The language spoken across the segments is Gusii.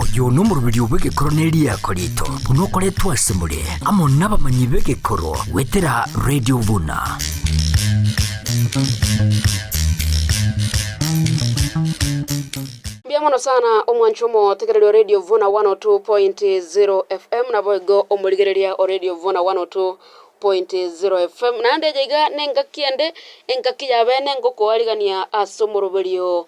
Oyo nomoroberio bw'egekoro ne riako rito, buna okoretwe asemore, amo nabamanyi b'egekoro, gwetera Radio Buna. Mbuya mono sana omwancho omotegererio Radio Vuna 102.0 FM nabo igo omorigereria o Radio Vuna 102.0 FM. Naende eye iga nengaki ende, engaki yabe nengokoarigania ase omoroberio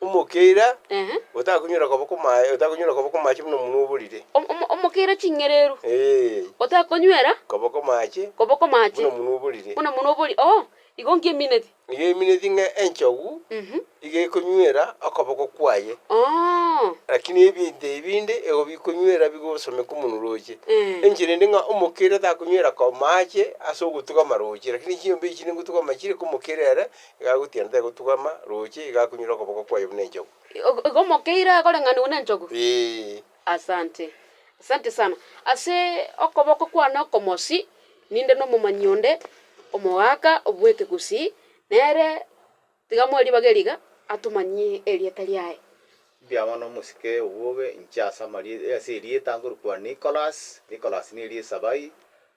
Omokeira otakonywera koboko maye, otakonywera koboko mache buna omonwa oborire. Omokeira ching'ereru otakonywera koboko mache koboko mache buna omonwa oborire. buna omonwa oborire. Oo, igo nkimineti. Igo emineti ng'a enchogu iga ekonywera okoboko kwaye, lakini ebinto ebinde igo bikonywera bigosomeka omonwa roche. Enchera ende ng'a omokeira takonywera ko mache ase ogotuga amaroche, lakini chinyomba echi chinde ngotuga amachire, ka omokeira ere Igagutiana tegotugama, roche igakunyure okoboko kwaye buna enchogu. Igo mokeire akoreng'anigwe nenchogu? Ee. Asante. Asante sana. Ase okoboko kwane okomosi ninde nomomanyi onde omogaka obwekegusii, nere tiga moe ribaga eriga atomanyie erieta riaye. Mbiang'wa nomosike obobe inche ase amarieta ase erieta ngorokwa Nicholas. Nicholas neri esabai,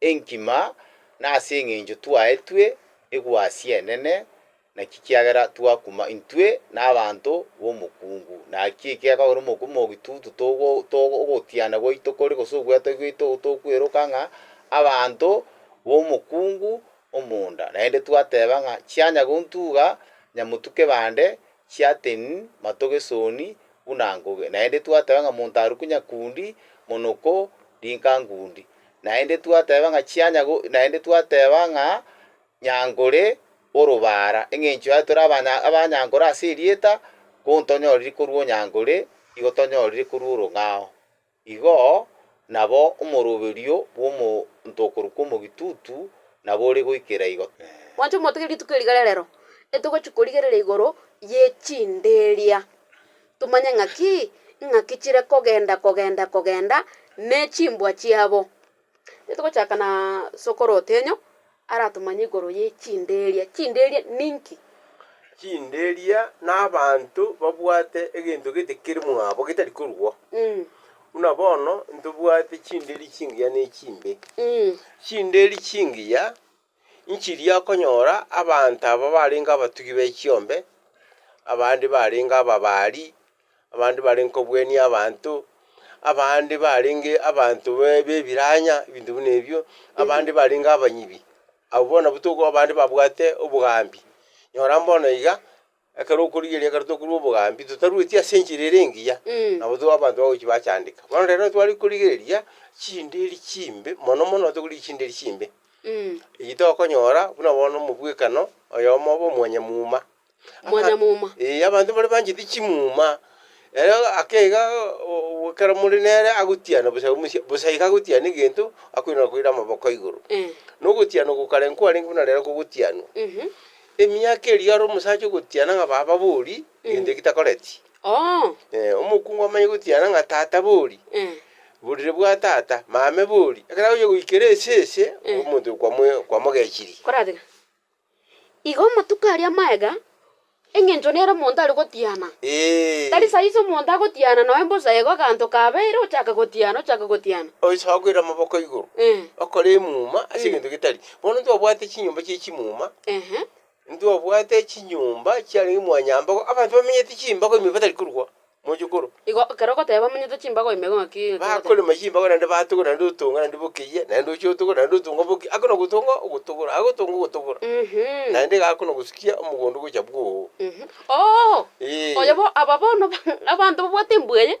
Enkima, na ase engencho twaetwe egwasi enene, naki kiagera twakuma intwe na abanto b'omokungu. Naki eki gekogera omokumoki tutu togo togo ogotiana gwaito kore gose ogwetogia gwaito ogo tokweroka ng'a abanto b'omokungu omonda. Naende twateba ng'a chianya gontuga nyamotuke bande chiaten matogesoni buna ngoge. Naende twateba ng'a monto arokwe nyakundi monoko rinka ngundi. naende twateba ng'a chianyago, naende twateba ng'a nyankore orobara, engencho yaye tore abanya abanyankore ase erieta, kontonyoriri korwa onyankore, igo tonyoriri korwa orong'ao. Igo nabo omoroberio bw'omo monto okorokwa omogitutu nabo ore goikera igo. Mwanche motige rituko eri rigererero, etogochia korigerera igoro ye chinderia. Tomanye ng'aki ing'aki chire kogenda kogenda kogenda ne chimbwa chiabo. Titogochaka na sokoro Otenyo aratomanye igoro ye chinderia. Chinderia ninki? Chinderia nabanto babwate egento gete kere mwabo getari korwao. Buna bono ntobwate chinderi chingiya ne chimbe. Chinderi chingiya Nchiria okonyora abanto aba barenge abatugi be chiombe, abande barenge ababaari, abande barenge kobwenia abanto, abande barenge abanto be b'ebiranya, ebinto buna ebio, abande barenge abanyibi. Abwo bono nabwo tokoba abande babwate obogambi. Nyora mbono iga. Ekero okorigereria ekero tokorua obogambi totarueti ase enchera ere engiya, nabo tore abanto bagochi bachandeka. Bono rero tware korigereria chindiri chimbe, mono mono tokorigereria chindiri chimbe, eyio tokonyora buna bono omobwekano oyomo obe omwanyamuma. Omwanyamuma. Ee, abanto mbare banchete chimuma, ere ake iga oo ekero more nere agotiana bosa omochie bosa iga agotiana egento, akoirana koira amaboko igoro. Nogotiana oko kare nkorenge buna rero kogotianwa. Emiaka eria aro omosacha ogotiana ng'a baba bori egento eki takoreti. Oo. Eh, omokungu amanye gotiana ng'a tata bori, Eh. borire bwa tata, mame bori, ekero agochia goikera esese, Eh. omonto oyo kwamo- kwamogechirie. Koratega. Igo amatuko aria maega, eng'encho nere omonto are gotiana. Eeh. Tari saizi omonto agotiana noe mbosa igo aganto kabeire ochake gotiana, ochake gotiana. Oisa okoira amaboko igoro, Eh. okore emuma ase Mm. egento getari. Bono ntwabwate chinyomba chie chimuma, Ehe. ntwabwate chinyomba chiarenge mwanyambago, abanto bamenyete chimbago ime batari korwa mochokoro. Igo ekero ogoteba bamenyete chimbago ime igo ng'aki egento ogoteba? Bakorema chimbago naende batogora naende otonga naende bokeyia, naende oche otogora naende otonga boki, akona gotonga ogotogora, agotonga ogotogora, Mhm. naende iga akona gosikia omogondo ogocha bwoo. Mhm. Oo! Ee. Oyo bo- aba bono ba- abanto babwate embwa eye,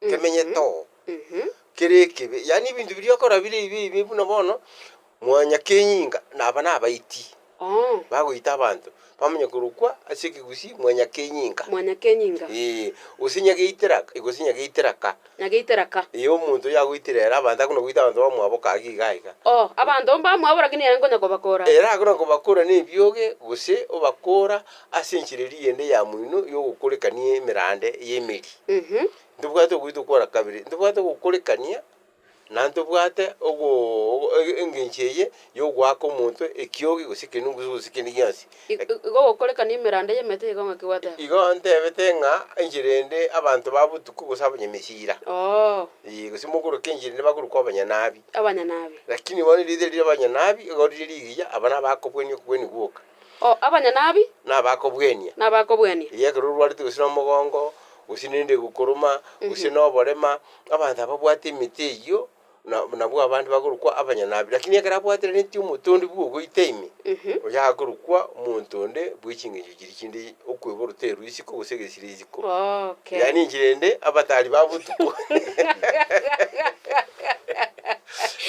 nkemenyete oo, kere ekebe, yaani ebinto biria okora bire ebibe ebibe buna bono, mwanya kenyinga naba nabaiti bagoita abanto bamanya korokwa ase ekegusii mwanya kenyinga. Mwanya kenyinga. Ee, gose nyageitera ka, gose nyageitera ka. Nyageitera ka. Ee, omonto oyo agoitire ere abanto akona goita abanto bamwabo ka iga iga iga. Oo, abanto mbamwabo rakini ere nkonya kobakora. Ere akona kobakora na ebioge, gose obakora Ase enchera eria eyende yamoino y'ogokorekania emerande y'emeri, ntobwate ogoita okwana kabere, ntobwate ogokorekania, na ntobwate ogo ogo ege engencho eye y'ogoaka omonto ekiogi gose ekenungu gose gose kende gionsi. I- Lak- i- igo ogokorekania emerande y'emete igo ng'aki gwateba? Igo ntebete ng'a enchera eyende abanto ba botuko gose abanyamesira, Oo, ee, gose mogoroke enchera eyende bakorokwa abanyanabi. abanyanabi. Lakini bono erieta riria abanyanabi, igo riria rigiya, aba nabakobwania okobwani gwoka. O abanyanabi. Nabakobwenia. Nabakobwenia. Eyi ekero orwarete gose nomogongo, gose nerende egokoruma, gose noborema, abanto ababwate emete eyio, na nabwo abande bakorokwa abanyanabi. Rakini ekero abwatereneti omote onde bwogoita ime, oyo akorokwa omonto onde bwe chingencho chiria chinde, okwebora oteru isiko gose egesire isiko. Goke. Yaani chirende abatari ba botuko.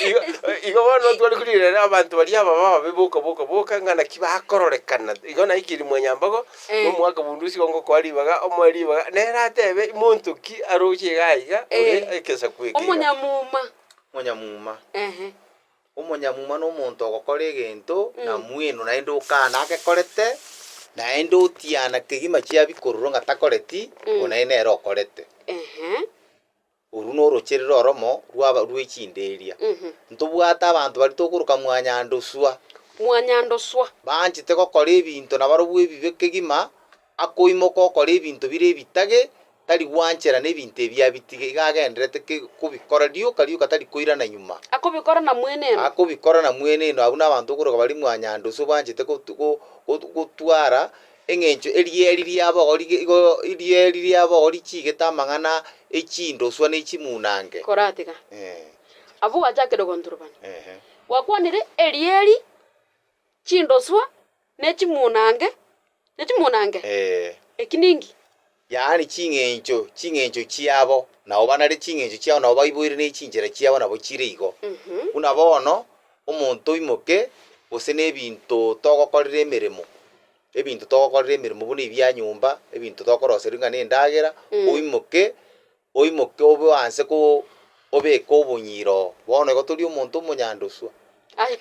Igo igo bono ntware korigereria abanto baria aba babe boka boka boka ng'a naki bakororekana. Igo naye keri mwanyambogo, Eh. nomwakabundu osigo ngokoa ribaga, omoe ribaga, nere atebe monto ki aroche iga aiga, ore Eh. ekesaku eke iga. Omonyamuma. Monyamuma. Ehe. Omonyamuma nomonto ogokora egento na mwenu naende okana agekorete, naende otiana kegima chiabi korora ng'a takoreti, oyo naende nere okorete. Ehe. Oru norocherere oromo rwaba rwe chinde eria. Ntobwate abanto baria tokoroka mwanyandoswa. Mwanyandoswa. Banchete gokora ebinto nabarobwo ebibe kegima. Akoimoka okore ebinto bire ebitage, tari gwanchera nebinto ebi abitige, iga agenderete kobikora rioka rioka tari koirana nyuma. Akobikora na mweneno. Akobikora na mweneno abwo nabanto okoroka baria mwanyanda ase obanchete gotwara eng'encho erieri riabori igo erieri riabori chiigete amang'ana echindoswa ne chimunange. Koratiga. Abwo gwachakire ogonturubana. Gwakwanire erieri, chindoswa, Ne chimunange, ne chimunange, Ee. eki ninki? Yaani ching'encho, ching'encho chiabo, nao banare ching'encho chiao, nao baiboire ne chinchera chiabo nabo chire igo. Mhm. Buna bono, omonto oimoke, gose nebinto togokorera emeremo, ebinto togokorera emeremo buna ebia nyomba, ebinto tokoroseria ng'a nendagera, oimoke, Oimoke obe anse ko obeke obunyiro oo. Bono igo tori omonto omonyandoswa. Aye,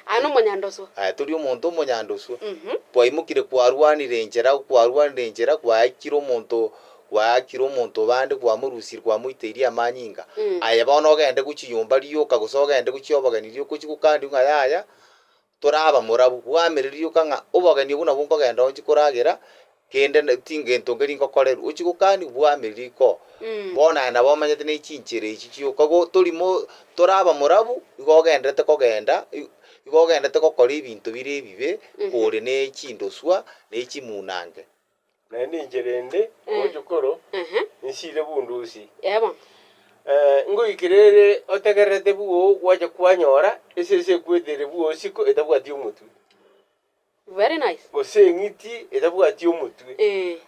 aye nomonyandoswa. Aye tori omonto omonyandoswa. Mhm. Kwaimokire kwarwanire enchera, kwarwanire enchera, kwaakire omonto, kwaakire omonto bande, kwamorusirie, kwamoiteirie amanyinga. Mm. Aye bono ogende gochiyomba rioka, gose ogende gochia obogeni rioka, ochie gokandiwe ng'a yaya, Toraba morabu, bwamereria yoka ng'a obogeni obwo nabwo nkogenda onsi koragera, kende tingento nkeri nkokorerwe. Ochi gokani bwamereria iko, bono aye nabo omanyete ne chinchera echi chioka. Igo tori mo toraba morabu, igo ogenderete kogenda, igo ogenderete gokora ebinto bire ebibe, kore ne chindoswa, ne chimunange. Naende inche rende ngocha koro, nsiire bundusi. Ngoikire ere otegererete bwoo gwacha kwanyora esese ekwetire bwoo isiko etabwati omotwe, gose eng'iti etabwati omotwe,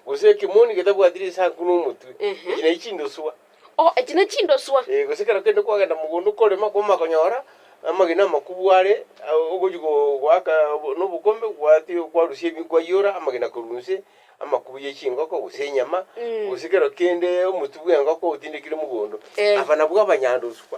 gose ekemoni getabwati risanku na omotwe, echi nachi chindoswa. Oh, echi ne chindoswa! Ee, gose ekero kende kwagenda mogondo okorema, kwamanya konyora amagena amakubu are, ah, ogochi go- goaka obo- nobokombe, gwati- kwarusia ebi- kwaiyora amagena korwa inse, amakubu ye chingoko gose enyama, gose ekero kende omotu bw'engoko otindekire mogondo. Eh. Aba nabwo abanyandoswa.